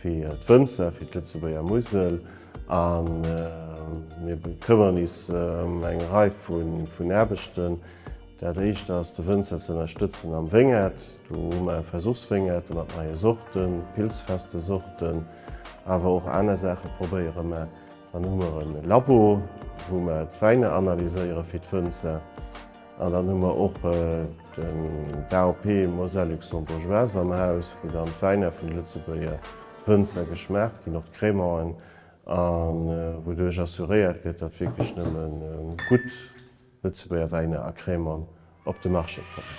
fir d'Wënzer, fir d'Lëtzebuerger Musel a mir bekëmmeren is ëm eng Rei vun Aarbechten. Dat éischt ass de Wënzer ze ënnerstëtzen am Wéngert. Do hu mer Versuchswéngerte mat neie Sorten, pilzfeste Sorten, awer och aner Saache probéiere mer. Dann hu mer e Labo, wou mer d'Wäiner analyséiere fir d'Wënzer. An dann hu mer och d'AOP Moselle Luxembourgeoise am Haus, wou dann d'Wäiner vun de Lëtzebuerger Wënzer geschmaacht ginn, och d'Crémanten, a wouduerch assuréiert gëtt, datt wierklech nëmme gutt Lëtzebuerger Wäiner a Crémanten op de Marché kommen.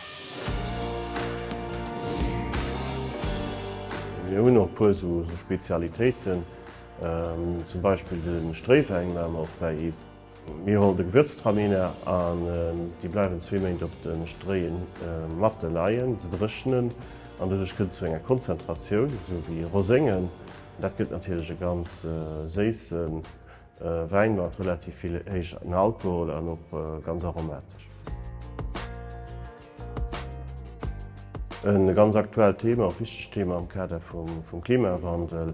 Mir hunn och e puer esou Spezialitéiten, zum Beispill de Stréiwäin, war mer och bäi iis. Mir hol de Gewürztraminer an déi bleiwen zwee Méint op de Stréie matte leien, se dréchnen an doduerch gëtt et zu enger Konzentratioun, esou wéi Roséngen. Dat gëtt natierlech e ganz séisse Wäin mat relativ vill héijen Alkohol an och ganz aromatesch. E ganz aktuellt Thema, och wichtegt Thema am Kader vum Klimawandel,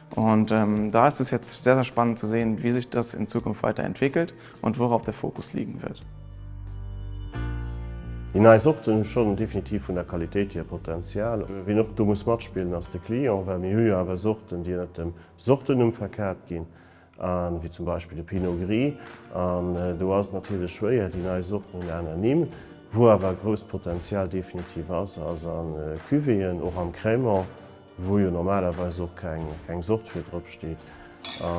Und da ist es jetzt sehr, sehr spannend zu sehen, wie sich das in Zukunft weiter entwickelt und worauf der Fokus liegen wird. Déi nei Sorten hu schonn definitiv vun der Qualitéit hier Potenzial. Wien och do muss matspillen ass de Client, well mir hu jo awer Sorten, déi ënnert dem Sortennumm verkat ginn, wéi zum Beispill de Pinot Gris. An do ass et natierlech schwéier, déi nei Sorten hunn aner Nimm. Wou awer e grousst Potenzial definitiv ass, ass a Cuvéeën, och am Crémant. wou jo normalerweis och keng Sort fir drop steet a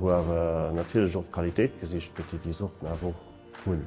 wou awer natierlech och d'Qualitéit gesicht gëtt, déi déi Sorten awer och hunn.